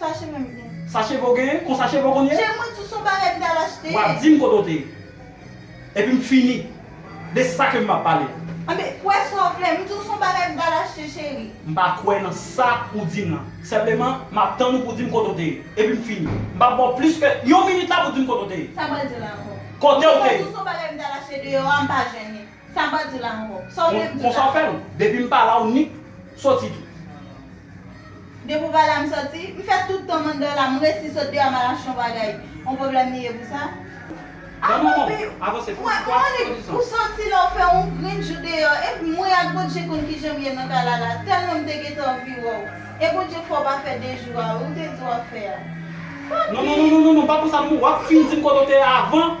Sa cheve m gen? Sa cheve w gen? Konsa cheve w konn ye? Cheve mwen tou son bagay m t al achte. Wap di m kote w te ye. Epi m fini. De sa ke m ap pale. Anben, kwè sa w vle. M di w son bagay m t al achte cheri. M pa kwè nan sa ou di m lan. Senpleman, m ap tann ou pou w di m kote w te ye. Epi m fini. M pap ba w plis ke yon minit la pou w di m kote w te ye. Sa m pral di w la ankò. Kote w te ye? M di w tou son bagay m t al achte deyò a, m pa jennen. Sa bwa di la anko. Sa w te di la. Konsa w fè m. Depi m pa la w nik soti tou. Depi w pa la m soti. M fè tout tan manda la m resi sot deyò ma lache yon bagay. On pwoblèm li ye pou sa? Nan manman w. Avanse pou m pran yon dizan. Ou santi lè w fè yon grenn jou deyò. Epi mwen ak Bondje konn kijan m ye nan kay la la. Tèlman m te gentan anvi wè w. E Bondje fè w pa fè de jou a wi ou te di w ap fè a. Papi. Non non non non non pa pou sa non. W ap fin di m kote w te avan.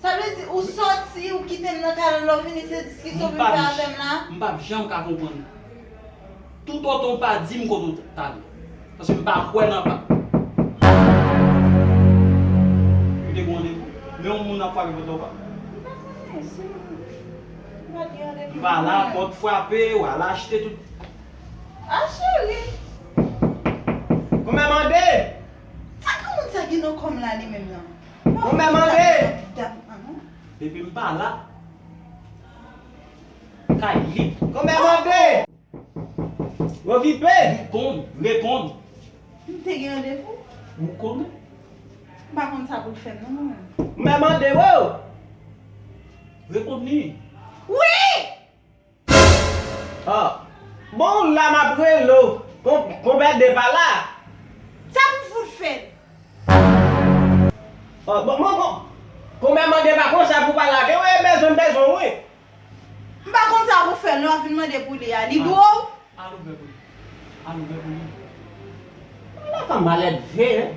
Sa vle di ou soti ou kitem nan kay la lè ou vini se diskisyon pou vin fè avèm la? M pap janm ka konprann ou. Tout otan w pa di m kote w t ale. Paske m pa kwè nan pa. Ou te gen randevou? Men yon moun ap frape pòt la ou pa. M pa konnen si m pa t gen randevou. M pa la pòt frape, ou al achte tout. A cheri! Konbyen mande? Sa granmoun sa gen nan kòm la li menm nan? Ou menm Andre! Depi m pa la, kay li. Ou menm Andre! Okipe! Li konn, reponn. M te gen randevou. Ou konnen. M pa konn sa pou l fè m non mwen menm. Ou menm Andre! Woo! Reponn li. Wi! Oh bon ou la map rele w Kon bède pa la Sa pou fout fed. Oh bon bon bon Kon bè mande pa kon sa pou pa la gen w e bezwen m bezwen w wi. M pa konn sa pou fè lè w vin mande pou li a li dwe w. Al ouvè pou li Al ouvè pou li. Ala fanm malèdve hein.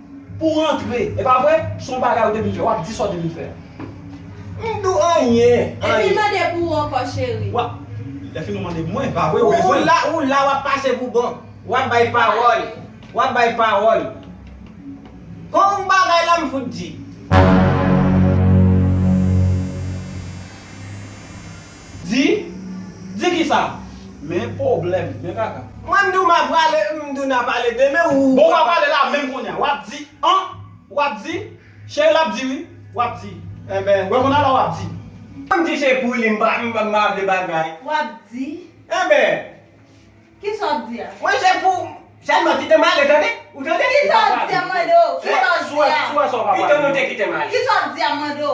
Pou rantre e pa vre son bagay ou te vin fè wap di sa ou te vin fè a m do anyen anyen. Epi mande pou ou ankò cheri. Wap Lèfini ou mande mwen pa vre ou bezwen m. Ou la wap pase pou bon. Wap bay pawòl. Wap bay pawòl. Kon ou bagay la m fout di. Di? Di kisa? Men pwoblèm, men kaka. Mwen m di w m ap prale, m di w n ap ale demen ou. Bon w ap ale la menm kounya. W ap di an, w ap di. Cheri l ap di wi, w ap di. Enben. W ap konn ala w ap di. Mwen m di se pou li m pa vle bagay. W ap di. Enben. Kisa w ap di a? Mwen se pou. Sèlman kite m ale tande. Ou tande? Kisa w ap di a m mande w? Kisa w ap di a? Pito nou te kite m ale. Kisa w ap di a m mande w?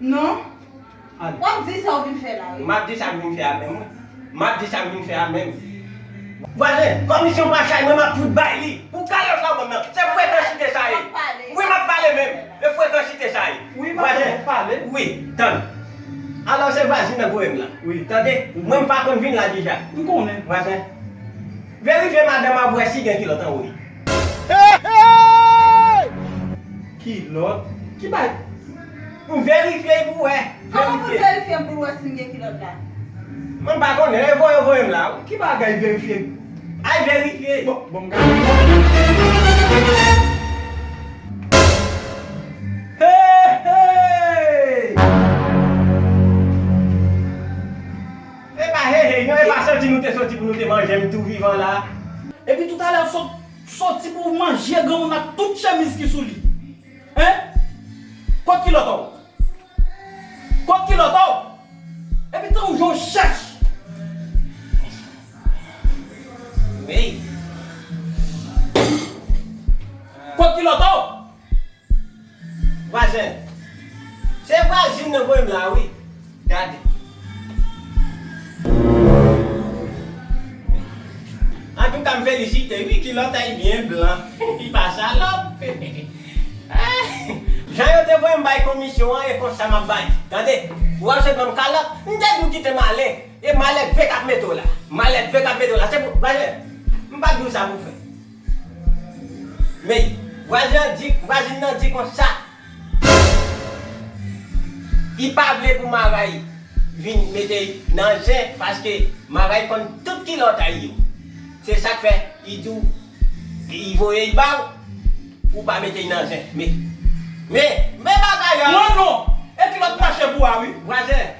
Non. Al. Wap di sa ou vin fè la wi. Map di sak vin fè a menm wi. Map di sak vin fè a menm. Vwazen, komisyon pa chay mwen map fout bay li pou kalòt charbon nan. Se frekansite sa ye. Wi map pale menm. Se frekansite sa ye. Wi map fè ou pale. Wi, tann. Alò se vwazin nan voyem la. Wi. Tande, mwen mpa konn vin la deja. Mkonnen. Vwazen, verifye madanm an pou wè si gen kilòt anwo li. Kilòt? Ki bagay? Pou verifye pou wè. Koman pou verifye m pou l wè si m gen kilòt la. Mwen pa konnen e voye yo voye m la wi. Ki bagay verifye. Ay verifye. Bon m gade Heheyy. Epa heheyy non epa soti nou te soti pou nou te manje m tou vivan la. Epi toutalè ou sot soti pou w manje granmoun ak tout chemiz ki sou li. Hein? Kot kilòt ou? Kot kilòt ou? Epi tankou jan w chèch! Weyy! Kot kilòt ou? Vwazen! Se vwazin nan voye m la a wi. Gade. Antouka m felisite wi kilot anh byen blan li pa salop anh. Jan yo te voyem bay komisyon an e konsa map bay tande ou ap jwe banm kalòt m te di ou kitem ale e malèdve kap mete w la malèdve kap mete w la se pou vwazin m pap di w sa pou w fè men vwazin an di vwazin nan di konsa. Li pa vle pou Maray vin mete nan zen paske Maray konn tout kilòt a yo. Se sak fè li di w li voye l ba w pou w pa mete l nan zen. Men, men bagay la! Pran non! E kilòt machè pou a wi. Vwazen!